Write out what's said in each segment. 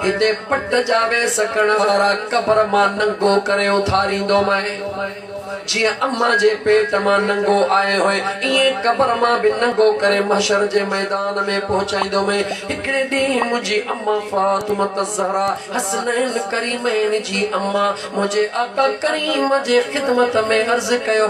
هتي پٽ جا ويس سڪڻ وارا قبر مان ننگو ڪري اٿاريندو مئي. جيئن اما جي پيٽ مان ننگو آئي هئي، ايئن قبر مان به ننگو ڪري محشر جي ميدان ۾ پهچائيندو مئي. هڪڙي ڏينهن منهنجي اما فاطمة الزهراء حسنين ڪريمين جي اما منهنجي آقا ڪريم جي خدمت ۾ عرض ڪيو،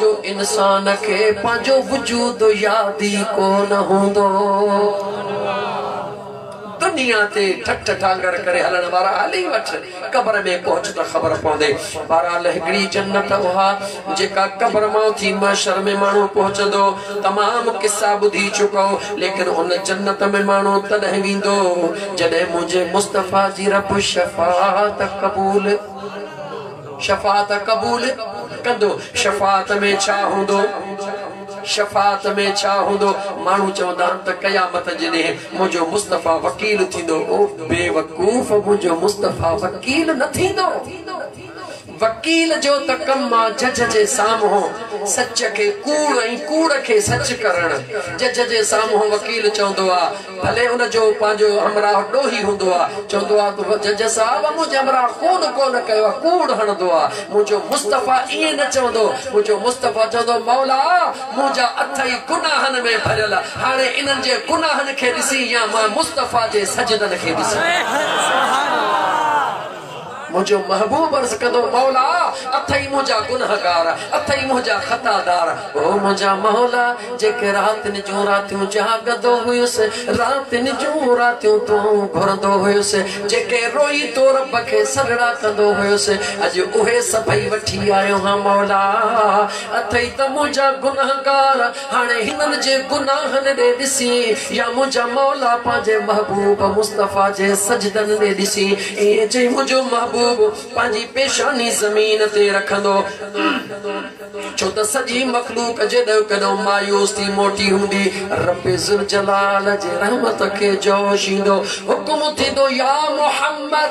جو انسان کي پنهنجو وجود ياد ئي ڪو نه هوندو. دنيا تي ٺٺ ڍانگر ڪري هلڻ وارا هلي وٺ، قبر ۾ پهچ ته خبر پوندي. بهرحال هڪڙي جنت اها جيڪا قبر مان اٿي محشر ۾ ماڻهو پهچندو. تمام قصا ٻڌي چڪئو، ليڪن ان جنت ۾ ماڻهو تڏهن ويندو جڏهن منهنجي مصطفيٰ جي رب شفاعت قبول. شفاعت قبول ڪندو. شفاعت ۾ ڇا هوندو؟ شفاعت ۾ ڇا هوندو؟ ماڻهو چوندا آهن ته قيامت جي ڏينهن منهنجو مصطفيٰ وڪيل ٿيندو. او بيوقوف منهنجو مصطفيٰ وڪيل نه ٿيندو. وڪيل جو ته ڪم آ جج جي سامهون سچ کي ڪوڙ ۽ ڪوڙ کي سچ ڪرڻ. جج جي سامهون وڪيل چوندو آ. ڀلي ان جو پنهنجو همراهه ڏوهي هوندو آ، چوندو آ ته جج صاحب منهنجي همراهه ڪوڏ ڪونه ڪيو آ، ڪوڙ هڻندو آ، منهنجو مصطفيٰ ائين نه چوندو، منهنجو مصطفيٰ چوندو مولا منهنجا اٿ ئي گناهن ۾ ڀريل آ، هاڻي انهن جي گناهن کي ڏسين يا مان مصطفيٰ جي سجدن کي ڏسان. منهنجو محبوب عرض ڪندو مولا اٿئي منهنجا گنهگار اٿئي منهنجا خطا دار او منهنجا مولا جيڪي راتين جون راتيون جاڳندو هيس راتين جون راتيون تون گهرندو هيس جيڪي روئي تو رب کي سڏڙا ڪندو هيس اڄ اهي سڀئي وٺي آيو هان مولا اٿئي ته منهنجا گنهگار هاڻي هنن جي گناهن ڏي ڏسي، يا منهنجا مولا پنهنجي محبوب مصطفيٰ جي سجدن ڏي ڏسي، ائين چئي منهنجو محبوب پنهنجي پيشاني زمين تي رکندو، ڇو ته سڄي مخلوق جيڏو ڪيڏو مايوس ٿي موٽي هوندي، رب ذوالجلال جي رحمت کي جوش ايندو، حڪم ٿيندو، يا محمد!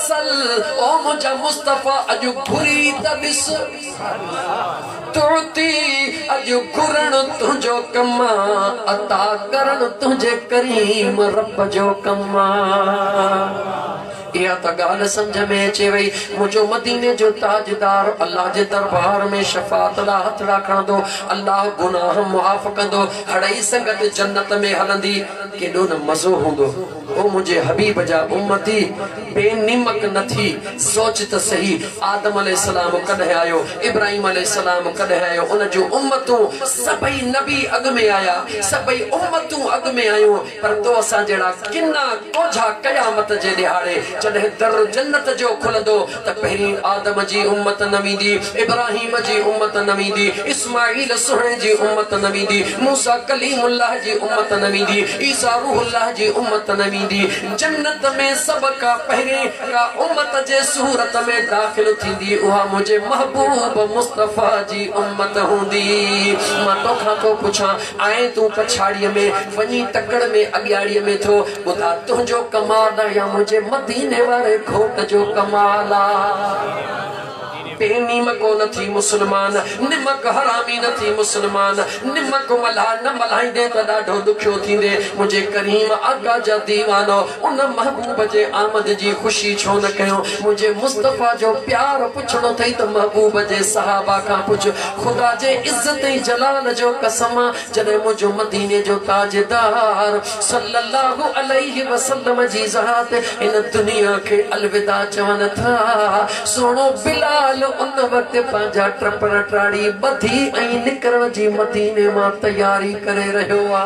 صل او منهنجا مصطفيٰ اڄ گهري ته ڏس تعطي اڄ گهرڻ تنهنجو ڪم آ عطا ڪرڻ تنهنجي ڪريم رب جو ڪم آ اها ته ڳالهه سمجهه ۾ اچي وئي منهنجو مديني جو تاجدار الله جي دربار ۾ شفاعت لا هٿڙا کڻندو الله گناهه معاف ڪندو هڙئي سنگت جنت ۾ هلندي ڪيڏو نه مزو هوندو او منهنجي حبيب جا امتي! بي نيمڪ نه ٿي، سوچ ته سهي، آدم عليه السلام ڪڏهن آيو، ابراهيم عليه السلام ڪڏهن آيو، ان جون امتون سڀئي نبي اڳ ۾ آيا، سڀئي امتون اڳ ۾ آيون، پر تو اسان جهڙا ڪنا ڪوجها قيامت جي ڏهاڙي جڏهن در جنت جو کلندو، ته پهرين آدم جي امت نه ويندي، ابراهيم جي امت نه ويندي، اسماعيل سهڻي جي امت نه ويندي، موسيٰ ڪليم الله جي امت نه ويندي، عيسيٰ روح الله جي امت نه ويندي. جنت ۾ سڀ کان پهرين ڪا امت جي صورت ۾ داخل ٿيندي اها منهنجي محبوب مصطفيٰ جي امت هوندي. مان توکان ٿو پڇان، آئين تون پڇاڙيء ۾ وڃي ٽڪڙ ۾ اڳياڙيء ۾ ٿو. خدا تنهنجو ڪمال آ يا منهنجي مديني واري گھوٽ جو ڪمال آ بي نيمڪو نه ٿي مسلمان نمڪ حرامي نه ٿي مسلمان نمڪ ملها نه ملهائيندي ته ڏاڍو ڏکيو ٿيندي منهنجي ڪريم آقا جا ديوانو ان محبوب جي آمد جي خوشي ڇو نه ڪيو منهنجي مصطفيٰ جو پيار پڇڻو اٿئي ته محبوب جي صحابه کان پڇ خدا جي عزت ۽ جلال جو قسم جڏهن منهنجو مديني جو تاجدار صلّي اللّٰه عليه وسلّم جي ذات هن دنيا کي الوداع چون ٿا، سهڻو بلال ان وقت پنهنجا ٽپڙ ٽاڙي ٻڌي ۽ نڪرڻ جي مديني مان تياري ڪري رهيو آ.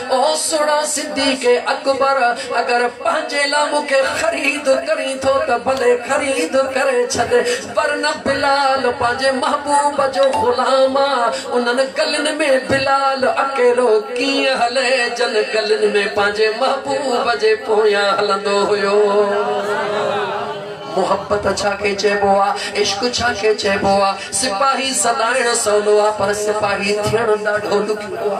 او سھڻا صديق اڪبر! اگر پنھنجي لا مون کي خريد ڪرين ٿو ته ڀلي خريد ڪري ڇڏ، پر نه بلال پنھنجي محبوب جو غلام آ، انھن گلين ۾ بلال اڪيلو ڪيئن ھلي جن گلين ۾ پنھنجي محبوب جي پويان ھلندو ھيو. محبت ڇا کي چئبو آ؟ عشق ڇا کي چئبو آ؟ سپاھي سڏائڻ سولو آ پر سپاھي ٿيڻ ڏاڍو ڏکيو آ.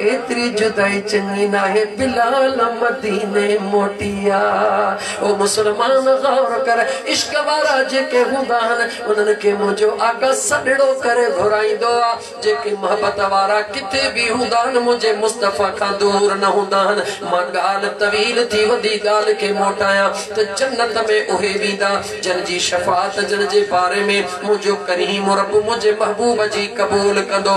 ايتري جدائي چڱي ناهي بلال مديني موٽي آ او مسلمان غور ڪر عشق وارا جيڪي هوندا آهن انهن کي منهنجو آقا سڏڙو ڪري گهرائيندو آ جيڪي محبت وارا ڪٿي به هوندا آهن منهنجي مصطفيٰ کان دور نه هوندا آهن مان ڳالهه طويل ٿي وڏي ڳالهه کي موٽايان ته جنت ۾ اهي ويندا جن جي شفاعت جن جي باري ۾ منهنجو ڪريم رب منهنجي محبوب جي قبول ڪندو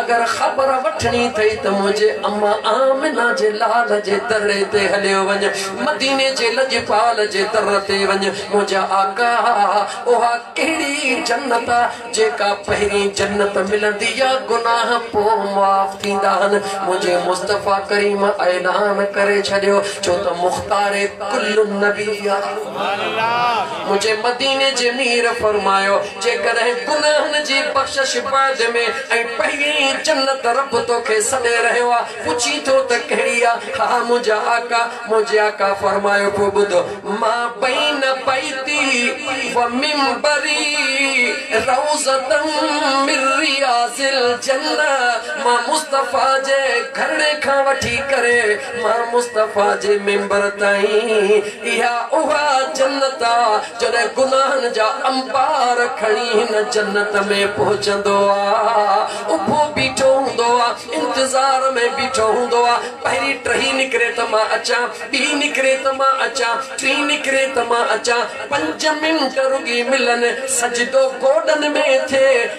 اگر خبر وٺڻي اٿئي ته منهنجي اما آمنه جي لال جي در تي هليو وڃ، مديني جي لڄپال جي در تي وڃ، منهنجا آقا! اها ڪهڙي جنت آ، جيڪا پهرين جنت ملندي آ، گناهه پوء معاف ٿيندا آهن، منهنجي مصطفيٰ ڪريم اعلان ڪري ڇڏيو، ڇو ته مختار ڪل نبي آ. منهنجي مديني جي مير فرمايو. جيڪڏهن گناهن جي بخشش بعد ۾ ۽ پهرين جنت رب توکي سڏي رهيو آ پڇين ٿو ته ڪهڙي آ ها منهنجا آقا منهنجي آقا فرمايو پوء ٻڌ ما بين بيتي و منبري روضة من رياض الجنة مان مصطفيٰ جي گهرڙي کان وٺي ڪري مان مصطفيٰ جي منبر تائين اها اها جنت آ جڏهن گناهن جا انبار کڻي هن جنت ۾ پهچندو آ، اڀو بيٺو هوندو آ، انتظار ۾ بيٺو هوندو آ، پهرين ٽهي نڪري ته مان اچان، ٻي نڪري ته مان اچان، ٽي نڪري ته مان اچان، پنج منٽ رڳي ملن، سجدو گوڏن ۾ ٿئي،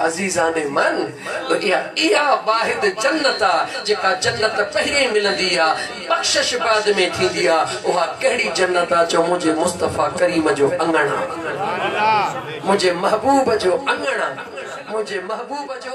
عزيزان من! اها واحد جنت آ، جيڪا جنت پهرين ملندي آ، بخشش بعد ۾ ٿيندي آ، اها ڪهڙي جنت آ جو منهنجي مصطفيٰ ڪريم جو اڱڻ آ، منهنجي محبوب جو اڱڻ آ، منهنجي محبوب جو.